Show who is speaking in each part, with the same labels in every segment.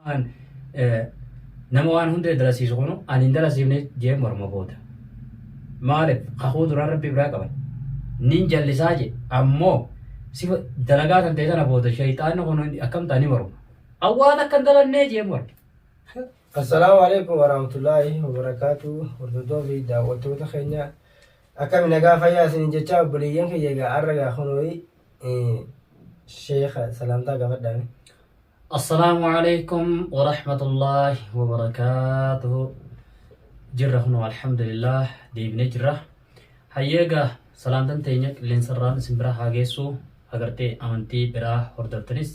Speaker 1: An nama waan hundee dalasiisu kunu an hin dalasiifne jee morma booda. Maalif kakuu duraan rabbi biraa qaban. Nin jallisaa jee ammoo sifa dalagaa tan ta'e tana booda shayxaanni kunu akkamtaa ni morma. An waan akkan dalannee jee morma. Assalaamu
Speaker 2: alaikum warahmatullaahi wabarakaatu hordoftoota fi daawwattoota keenya akkami nagaa fayyaa isiniin jechaa obboleeyyan kiyya egaa arra gaa kunooyi sheeka salaamtaa gaafadhaani. Assalaamu
Speaker 1: Aleykum Warahmatullaahi Wabarakaatuhu Jirra kunoo Alhamdulillaah deebinee jirra. Hayyee egaa salaantan teenya qilleensarraan isin bira haa geessu agartee amantii biraa hordoftanis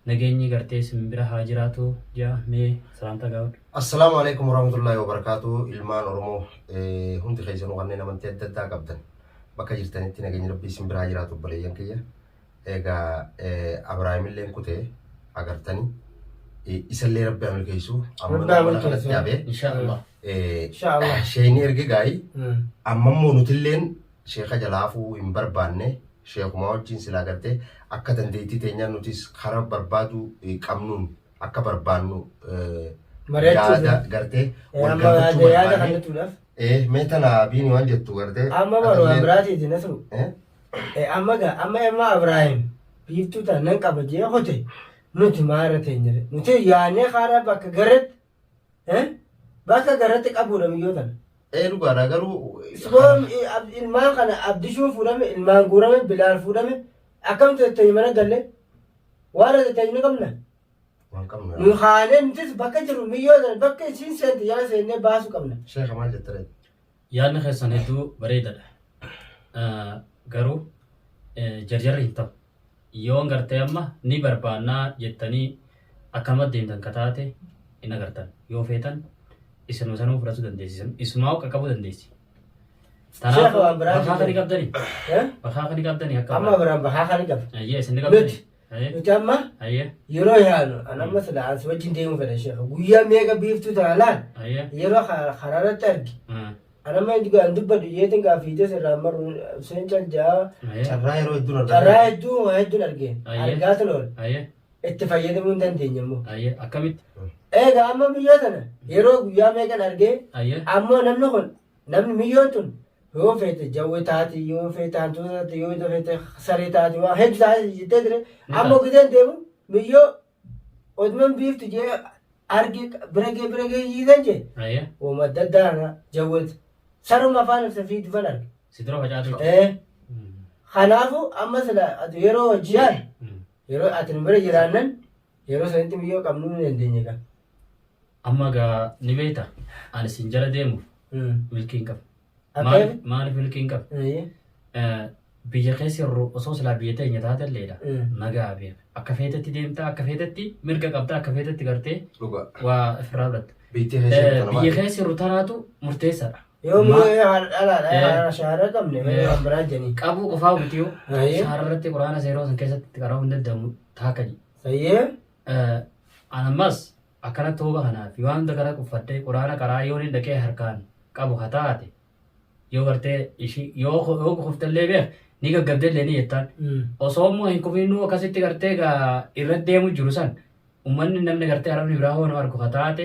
Speaker 1: nageenyi gartee isin bira haa jiraatu jaa mee salaantaa gaafadhu. Assalaamu alaikum
Speaker 3: warahmatullaahi wabarakaatuhu ilmaan Oromoo eh, hundi keessanuu kanneen amantii adda addaa qabdan bakka jirtanitti nageenyi rabbii isin bira haa jiraatu obboleeyyan kiyya. egaa Abrahaimillee kute agartanii isallee rabbi haa milkeessu amma Rabbi haa mana kanatti
Speaker 2: milkeessu. dhabe Inshaallah.
Speaker 1: Inshaallah.
Speaker 2: sheekni erge gaa'ii
Speaker 3: Mm. amma immoo nutilleen sheeka jalaafuu hin barbaanne sheekumaa wajjin silaa gartee akka dandeettii teenyaa nutis karaa barbaaduu eh, qabnuun akka barbaannu eh, Mari'achuuf. yaada gartee Eh, wal amma gaafachuu yaada-
Speaker 2: yaada kan barbaanne jechuudhaaf. Eh, mee tana biini
Speaker 3: waan jettu gartee amma baroo atillee- amraatiiti
Speaker 2: nasru Eh? Eh, amma gaa amma amma abraahim biiftuu tan nan qaba jee hote nuti maara teenya re nuti yaanee kaara bakka garratti eh, bakka garratti qabuudha miyyoo tana Ee dhugaadha garuu.
Speaker 3: Siboon
Speaker 2: ilmaan kana abdishuun fuudhame ilmaan guurame bilaal fuudhame akkam tetteenyi mana galle waan tetteenyi ni qabna Waan qabna. nu kaanee nutis bakka jiru miyyoo sana bakka isiin seente jala seennee baasuu qabna. Sheekha maal jette ree?
Speaker 3: Yaadni keessan
Speaker 1: hedduu bareedadha. Garuu jarjarri hin ta'u. Yoon gartee amma ni barbaannaa jettanii akkanuma deemtan ka taate hin agartan. Yoo feetan isinuma sanuu fudhachuu dandeessi. Isumaa qaqqabuu dandeessi.
Speaker 2: Kanaafuu bakaa kan qabdani.
Speaker 1: Bakaa kan qabdani akka. Amma biraan bakaa kan
Speaker 2: qabdani. Ayyee isin ni qabdani.
Speaker 1: Nuti amma
Speaker 2: yeroo
Speaker 1: yaanu
Speaker 2: an amma sila ansi wajjin deemuu fedha sheekha guyyaa meeqa biiftuu tana laal yeroo karaarratti arge an amma inni an dubbadhu jeetin gaa fiitee sirraa maru seen cal jaa carraa yeroo
Speaker 3: hedduun argaa carraa hedduu waa hedduun
Speaker 2: arge argaa tun ool itti fayyadamuu hin dandeenye immoo akkamitti
Speaker 1: eega amma
Speaker 2: miyyoo tana yeroo guyyaa meeqan argee ammoo namni kun namni miyyoon tun Yoo feete jawwe taati, yoo feete hantuuta taati, yoo ita feete saree taati, waan heddu taati jettee ture. Ni Amma taati. gideen deemu miyyoo oduman biiftu jee arge bira gee bira gee yiidan jee Aye. wama adda addaa kana jawweet saruma afaan ibsa fiidifan arge. Si dura facaatu jira. Eh, Kanaafu amma sila ati yeroo hojjaan yeroo ati nu bira jiraannan Yeroo sanitti biyyoo qabnuu ni dandeenye egaa. Amma
Speaker 1: egaa ni beekta. Ani sin jala deemuuf milkii hin qabu. Akka Maaliif jedhu? maaliif milkii hin qabu? Eeyyee. Eh, Biyya keessa yeroo osoo silaa biyya teenya taate illeedha. Mm. Nagaa beeka. Akka feetetti deemtaa, akka feetetti mirga qabdaa, akka feetetti gartee Dhugaa. waa ofirraa fudhatta. Biitti Eh, keessatti Biyya kana keessa yeroo tanaatu murteessaadha. Yoo Ma- immoo yoo
Speaker 2: haadha dhalaa dha Eh. haadha shaara qabne malee Eh. waan biraa janii. qabuu qofaa miti yoo
Speaker 1: Aye. shaararratti quraana seeroo san keessatti itti qara'uu hin danda'amu taaka jedhe. Sayyee.
Speaker 2: Eh,
Speaker 1: An ammas akkana tooba kanaaf waan hunda kana quffadhee quraana qaraa yoo inni dhaqee harkaan qabu ha taate yoo gartee ishii yoo ko- yoo kuftallee beek ni gaggabdellee ni jettaan. Osoo immoo hin kufinuu akkasitti gartee gaa irra deemu jiru san ummanni namni gartee arabni biraa hoo nama argu ha taate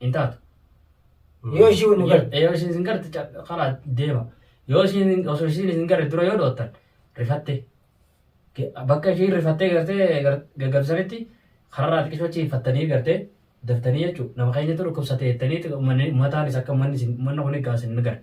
Speaker 1: hin taatu.
Speaker 2: Yoo ishii nu garte. Yoo ishiin isin garte ca-
Speaker 1: karaa deema. Yoo ishiin osoo ishiin isin garte dura yoo dhoottan rifattee. Ge- Bakka ishiin rifattee gartee gar- gaggabsanitti kararraa xiqqishoo achi hifattanii gartee daftanii jechuudha. Nama keenyatu dhukkubsate jettanii ummanni- ummataanis akka ummanni isin- ummanni kun egaa isin hin garte.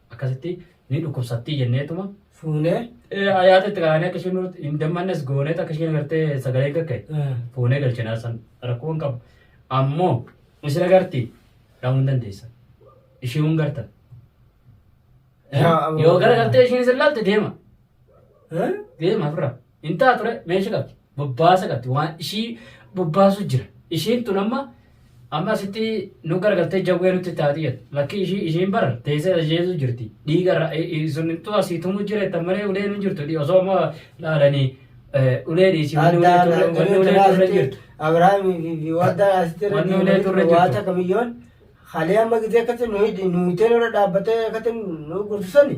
Speaker 1: akkasitti ni dhukkubsattii jenneetuma Fuunee.
Speaker 2: eh, ayaata itti kaa'anii
Speaker 1: akka isheen nuti hin dammannes gooneet akka isheen agartee sagalee kakke eh, fuunee galchinaa san rakkoo hin qabu. Ammoo isin agarti dhaamuu hin dandeessa. Ishee hin garta. Eh, Yaa, Yoo gara gartee isheen isin laalte deema. eh. Deema ofirraa. Hin ta'a ture meesha qabdi. Bobbaasa qabdi. Waan ishii bobbaasu jira. Ishiin tun amma amma asitti nu garagaltee jawwee nutti taati jedha. Lakkii ishii ishiin bara teessee ajjeesuu jirti. Dhiiga irra sunittuu asii tumuu jira jettan malee uleen hin jirtu. Dhi- Osoo amma laalanii eh, ulee dhiisii wanni ulee Addaan turre wanni ulee turre asitti jirtu. Abrahaamii fi- fi
Speaker 2: wadda asitti irra Wanni ulee turre jirtu. waata
Speaker 1: kamiyyoon
Speaker 2: halee amma gidee akkatti nu hidhi nu itee irra dhaabbatee akkatti nu gursisani.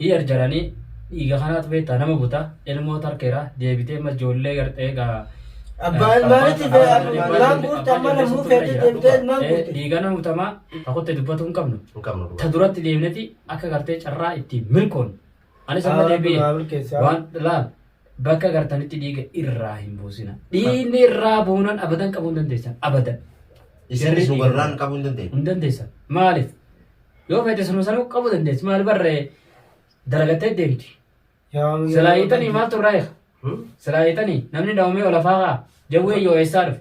Speaker 1: Hii arjarani dhiiga kanaatu beektaa nama buta ilmoo tarkeera deebitee ma ijoollee gartee gaa Abbaa ilmaanitti
Speaker 2: be- abbaa ilmaan ilmaan guurte amma lammuu feetee deemtee ilmaan guurte. dhiiga nama butamaa
Speaker 1: takutti dubbatuu hin qabnu Hin qabnu ta dhugaa. duratti
Speaker 3: deemneti
Speaker 1: akka gartee carraa itti milkoon anis amma Haa, deebi'e haa, milkeessi, haa. waan laal bakka gartanitti dhiiga irraa hin buusina dhiigni irraa buunan abadan qabuu hin dandeessan abadan Isinis
Speaker 3: nu garraan qabuu hin dandeenye. hin dandeessan maaliif
Speaker 1: Yoo fedhe sunu sanu qabu dandeessi maal barree dalagattee deemti. Silaa hiitanii maal turraa eega? Silaa hiitanii namni dhawamee olafaa kaa jawwee yoo eessaa dhufe.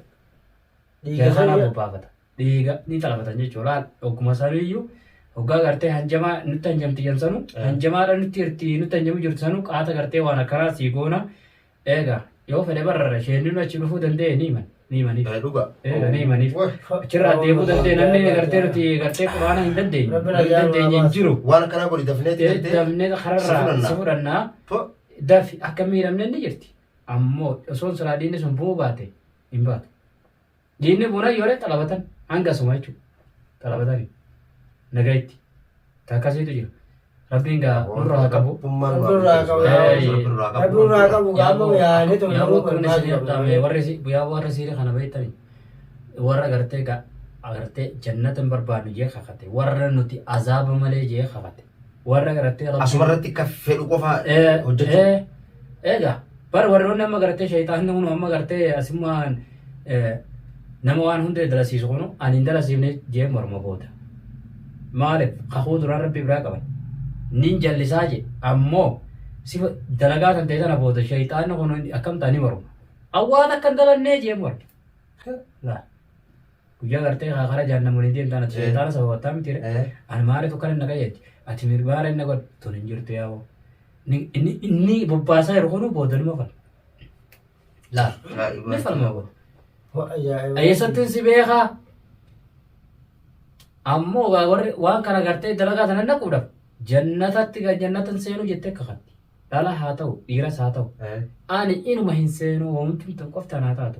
Speaker 1: Dhiiga
Speaker 2: kanaa bobbaafata.
Speaker 1: Dhiiga ni xalafatan jechuudha. Laal ogguma sanuu iyyuu hoggaa gartee hanjamaa nutti hanjamti jan sanuu hanjamaadha nutti irti nutti hanjamu jirtu sanuu qaata gartee waan akkanaa sii goona Eega yoo fedhe barra sheenninu achi dhufuu danda'e ni himan. Ni himaniif. Eh, dhuga. Eega ni
Speaker 3: himaniif.
Speaker 1: Wah. Achirraa deemuu danda'e namni gartee nuti gartee quraana hin dandeenye. Rabbi Hin nagaan dandeenye hin baase. jiru. Waan akkanaa godhi dafnee
Speaker 3: Eh, gartee Damnee si kararraa
Speaker 1: si fudhannaa. fudhannaa. Po. Dafi akka miidhamne ni jirti. Ammoo osoon salaadiinni sun bu'uu baate hin baatu. Diinni buna yoore xalabatan hanga suma jechuudha. Xalabatani. Nagaa itti. Takkasiitu jira. Rabbiin gaa nurra haa qabu. warrisiire kana beektani warra gartee agartee jannata hin barbaadnu jee kakate warra nuti azaaba malee jee kakate warra gartee rabbi Asuma irratti akka fedhu
Speaker 3: qofa Eh, hojjechuu. eh, eega
Speaker 1: bar warroonni amma gartee sheexaanni kun amma gartee asummaan eh, nama waan hunda dalasiisu kun ani hin dalasiifne jee morma booda maaliif kakuu duraan rabbi biraa qaban nin jallisaa je ammoo sifa dalagaa tan ta'e tana booda sheexaanni kun akkam ta'anii morma awwaan akka hin dalannee jee morma Laa. Guyyaa gartee haa karaa jaannamu waliin deemtaan ati Eh. sheexaana sababattaa mitiire. Eh. Ani maaliif akkana na qajeelche? Ati mirmaara inni godhe tun hin jirtu yaa'u. Ni- Inni inni bobbaasaa jiru kunuu boodaluma fal. Laal. Ajaa'iba. Ni falma booda. Wa- ajaa'iba. Eessattiin si beekaa? Ammoo waa warri waan kana gartee dalagaa sana naquudhaaf jannatatti kan jannatan seenuu jettee kakatti. Dhala haa ta'u dhiiras haa ta'u. Eh. Ani inuma hin seenuu wanti tan qoftaan haa taatu.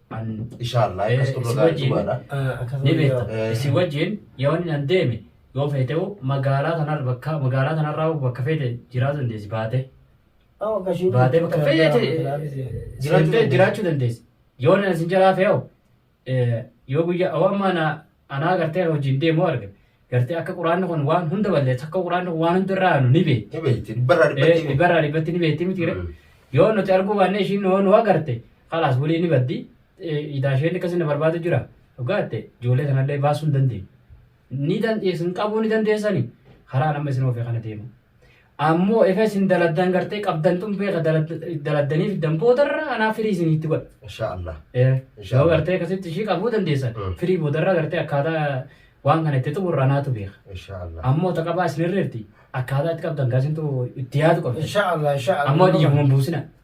Speaker 1: Inshaallah
Speaker 3: akkas turre gaarii dhugaadha. Ni beekta.
Speaker 1: Isin wajjin yoo inni nan deeme yoo feete hoo magaalaa tanarra bakka magaalaa tanarraa hoo bakka feete jiraatu dandeessi baatee. Baatee bakka feete seentee jiraachuu dandeessi. Yoo inni isin jalaa fe'e hoo yoo guyyaa hoo amma na Anaa gartee kan hojiin deemu arga. Gartee akka quraanni kun waan hunda balleessa akka quraanni kun waan hunda irraa aanu ni beekti. Ni beekti. Dhibbarraa Eh,
Speaker 3: dhibbatti. Dhibbarraa dhibbatti ni beekti miti.
Speaker 1: Mm. Yoo nuti arguu baannee ishiin yoo nu agarte kalaas waliin ni baddi. Eh, Idaa isheen akkasii na barbaadu jira. Dhugaa ta'e ijoollee kanallee baasuu hin dandeenye. Ni dandeessu hin qabuu ni dandeessani. Karaa nama isin oofee kana deemu. Ammoo egaa isin daladdaan gartee qabdan tun beeka daladdanii fiddan boodarra anaa firii isin itti godha. Insha Allah. Yoo
Speaker 3: Inshallah. gartee
Speaker 1: akkasitti ishii qabuu dandeessan Mm. firii boodarra gartee akkaataa waan kana itti xumurru anaatu beeka. Insha Allah. Ammoo ta
Speaker 3: qabaa isin
Speaker 1: irreerti akkaataa itti qabdan gaasintu itti yaadu qabda. Insha Allah. Insha Allah. Ammoo
Speaker 2: dhiiguma hin
Speaker 1: buusina.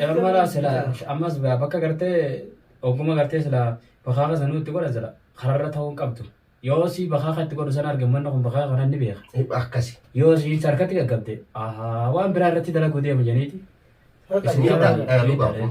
Speaker 1: Ermala sila ammas bakka gartee oguma gartee sila bakaa kan sanuu itti godhan sila kararra ta'uu hin qabdu. Yoo si bakaa kan itti godhu sana arge manni kun bakaa kanan ni beeka. Akkasi. Yoo si
Speaker 3: hin sarkatti
Speaker 1: gaggabde
Speaker 3: waan
Speaker 1: biraa irratti dalaguu
Speaker 3: deema
Speaker 1: janiiti. Isin Miidhaa, qabaan. eh,
Speaker 3: dhugaa
Speaker 1: kun